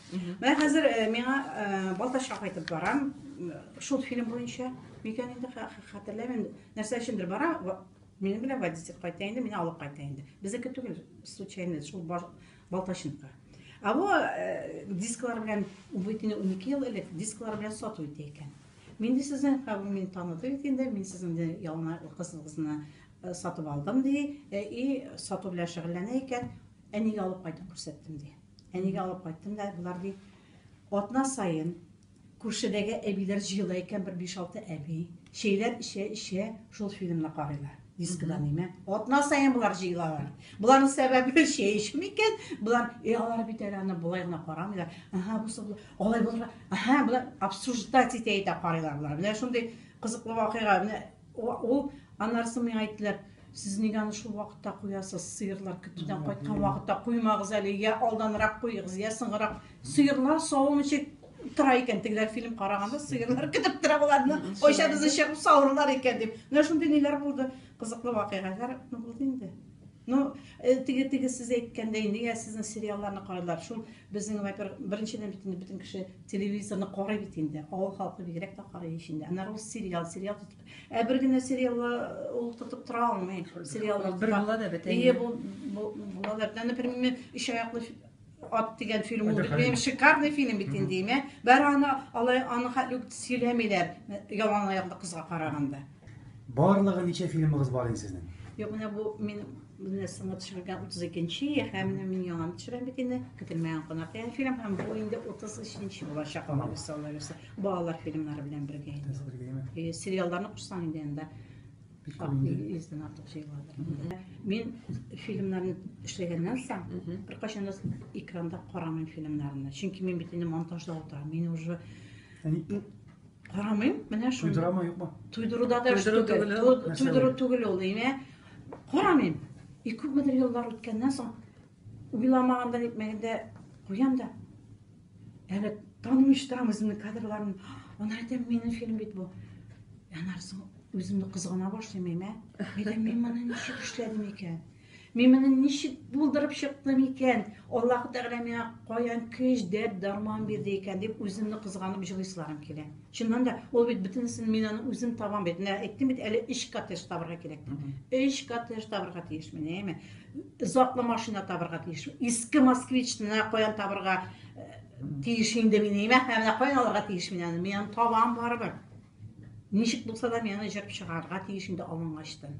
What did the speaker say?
Менә хәзер э, миңа э, Балтачка кайтып барам. Шул фильм буенча микән инде хәтерләмим. Нәрсә өчендер бара, минем белән водитель кайта инде, мине алып кайта инде. Безнеке түгел, случайно шул Балтачныкы. А бу э, дисклар белән үбитне 12 ел элек дисклар белән сату итә икән. Мин дә сезнең кабымны таныдым инде, мин сезнең ялына кызыгызны Сатып алдым, ди. И, сату белән шөгыльләнә икән. Әнигә алып кайтып күрсәттем, ди. Әнигә алып кайттым да, болар ди, атна саен күршедәге әбиләр җыела икән, бер 5-6 әби. Чәйләр эчә, эчә, шул фильмны карыйлар. Дискыда нимә? Атна саен болар җыелалар. Боларның сәбәбе чәй эчү микән? Болар, э, алар бит әле аны болай гына карамыйлар. Ага, бусы бу. Алай булырга. Ага, болар обсуждать итә итә карыйлар болар. Менә шундый кызыклы вакыйга. Менә Ул, анарысы миңа әйттеләр, сез нигә аны шул вакытта куясыз, сыерлар көтүдән кайткан вакытта куймагыз әле, я алданрак куегыз, я соңгырак. Сыерлар савым ничек тора икән, тегеләр фильм караганда сыерлар көтеп тора боларны, кайчан безне чыгып савырлар икән дип. Менә шундый ниләр булды, кызыклы вакыйгалар булды инде. Ну, э, теге теге сез әйткәндәй, нигә сезнең сериалларны карыйлар? Шул безнең, во-первых, беренчедән бит инде бөтен кеше телевизорны карый бит инде. Авыл халкы бигрәк тә карый ичендә. Ана рус сериал, сериал тотып. Ә бер генә сериалга э, ул тотып тора алмый. Сериаллар бер була да бит. Ие, бу булалар. Например, өч аяклы Ат дигән фильм ул бит минем шикарный фильм бит инде имә. Бәр аны алай аны хәтле үк сөйләмиләр ялан аяклы кызга караганда. Барлыгы ничә фильмыгыз бар инде сезнең? Юк, менә бу мин менә сыңа төшергән 32-нче һәм менә мин яңа төшерәм бит инде. Көтелмәгән кунак дигән фильм һәм бу инде 33-нче булачак алар үсә алар үсә. Балалар фильмнары белән бергә инде. Э, сериалларны кушсаң инде анда Йөздән артык җәй бар. Мин фильмнарны эшләгәннән соң, беркайчан да экранда карамыйм фильмнарны. Чөнки мин бит инде монтажда утырам. Мин уже карамыйм. Менә шул. Туйдырама юкмы? Туйдыруда да туйдыру түгел ул, әйме? Карамыйм. И күпмедер еллар үткәннән соң Уйламаганда нитмәгәндә куям да. Әле танымыйча торам үземнең кадрларым. Ана әйтәм, минем фильм бит бу. Анарсың үземне кызгана башлыйм әйме. Әйтәм, мин моны ничек эшләдем икән? Мин моны ничек булдырып чыктым икән? Аллаһ Тәгалә миңа каян көч, дәрт, дарман бирде икән дип үземне кызганып җылыйсыларым килә. Чыннан да, ул бит бөтенесен мин аны үзем табам бит. Менә әйттем бит, әле 3 коттедж табарга кирәк. 3 коттедж табарга тиеш мин, әйме? затлы машина табырга тиеш. Иске москвич менә каян табырга э, тиеш инде мин. Әмма менә каян алырга тиеш мин аны. Мин табам барыбер. Ничек булса да мин аны җырып чыгарга тиеш инде алынгачтан.